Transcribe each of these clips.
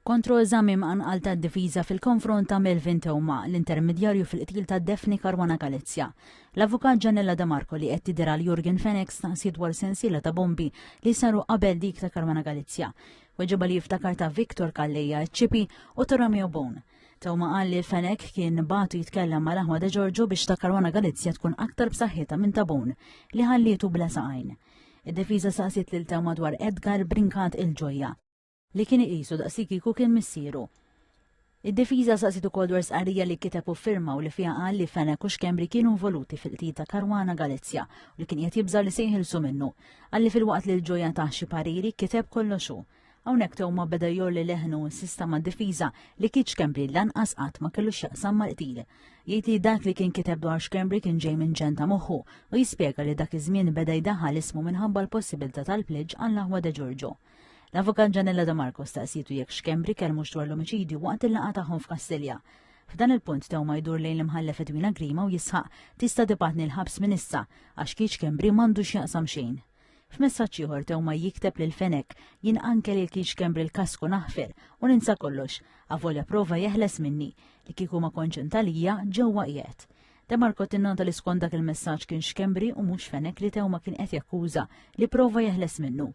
Kontroeżami mqanqal tad-difiża fil-konfront ta' Melvin Theuma, l-intermedjarju fil-qtil ta' Daphne Caruana Galizia. L-Avukat Janella Da Marco li qed tidher għal Jurgen Fenech staqsiet dwar sensiela ta' bombi li saru qabel dik ta' Caruana Galizia. Weġibha li jiftakar ta' Victor Calleja Eccipi u ta' Romeo Bone. Theuma qal li Fenech kien bagħtu jitkellem ma' l-aħwa De Giorgio biex ta' Caruana Galizia tkun aktar b'saħħitha minn ta' Bone li ħallietu bla saqajn. Id-difiża staqsiet lil Theuma dwar Edgar Brincat il-Gioia. li kien iqisu daqsikieku kien missieru. Id-difiża saqsiet ukoll dwar stqarrija li kiteb u firma u li fiha qal li Fenech u Schembri kienu involuti fil-qtil ta' Caruana Galizia u li kien qiegħed jibża' li se jinħilsu minnu. Qal li filwaqt li l-ġoja tah xi pariri, kiteb kollox hu. Hawnhekk Theuma beda jgħolli leħnu u insista mad-difiża li Keith Schembri lanqas qatt ma kellu x'jaqsam mal-qtil. Jgħid li dak li kien kiteb dwar Schembri kien ġej minn ġenn ta' moħħu u jispjega li dak iż-żmien beda jdaħħal ismu minħabba l-possibilità tal-pleġġ għall-aħwa De Giorgio. L-Avukat Ġanella De Marco staqsitu jekk xkembri kelmu dwar l-omiċidju waqt il-laqgħa tagħhom f'Kastilja. F'dan il-punt tew ma jdur lejn l-imħallef Edwina Grima u jisħaq tista' tibgħatni l-ħabs minn issa għax kieċ xkembri m'għandux jaqsam xejn. F'messaġġ ieħor tew ma jikteb lil Fenek jien anke lil kieċ kembri l-kasku naħfer u ninsa kollox, avolja prova jeħles minni li kieku ma konċentalija ġewwa qiegħed. De Marco tinnanta li skont dak il-messaġġ kien xkembri u mhux fenek li tewma kien qed jakkuża li prova jeħles minnu.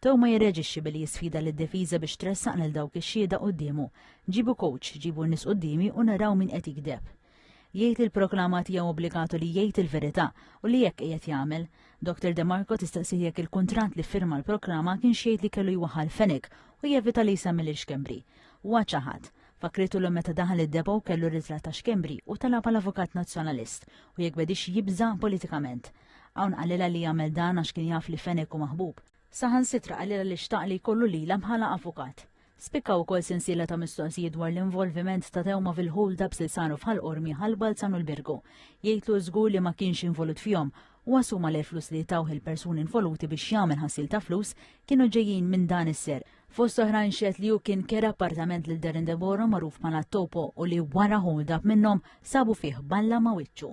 Tew ma jirreġixxi billi jisfida lid-difiża biex tressaq lil dawk ix-xhieda quddiemu. Ġibu coach, ġibu nies quddiemi u naraw min qed jigdeb. Jgħid li l-proklama tiegħu obbligatu li jgħid il-verità u li hekk qiegħed jagħmel. Dr Demarco tistaqsih jekk il-kuntratt li ffirma l-proklama kienx jgħid li kellu jwaħħal fenek u jevita li jsemmi lil Xkembri. Huwa ċaħad. Fakkritu l meta daħal id-depo kellu ritratt ta' Xkembri u talab għal avukat nazzjonalist u jekk bedix jibża' politikament. Hawn qalilha li jagħmel dan għax kien jaf li Fenech hu maħbub. Saħan sitra qalilha li xtaq li jkollu lilha bħala avukat. Spikkaw ukoll sensiela ta' mistoqsijiet dwar l-involviment ta' Tewma fil-ħul dabs li saru fħal Qormi ħal Balzan u l-Birgu. Jgħidlu żgur li ma kienx involut fihom u assuma li l-flus li tawh il-persuni involuti biex jagħmel ħassil ta' flus kienu ġejjin minn dan is-ser Fost oħrajn xed li hu kien kera appartament lil Darren Deboro magħruf bħala Topo u li wara hold up minnhom sabu fih balla ma' wiċċu.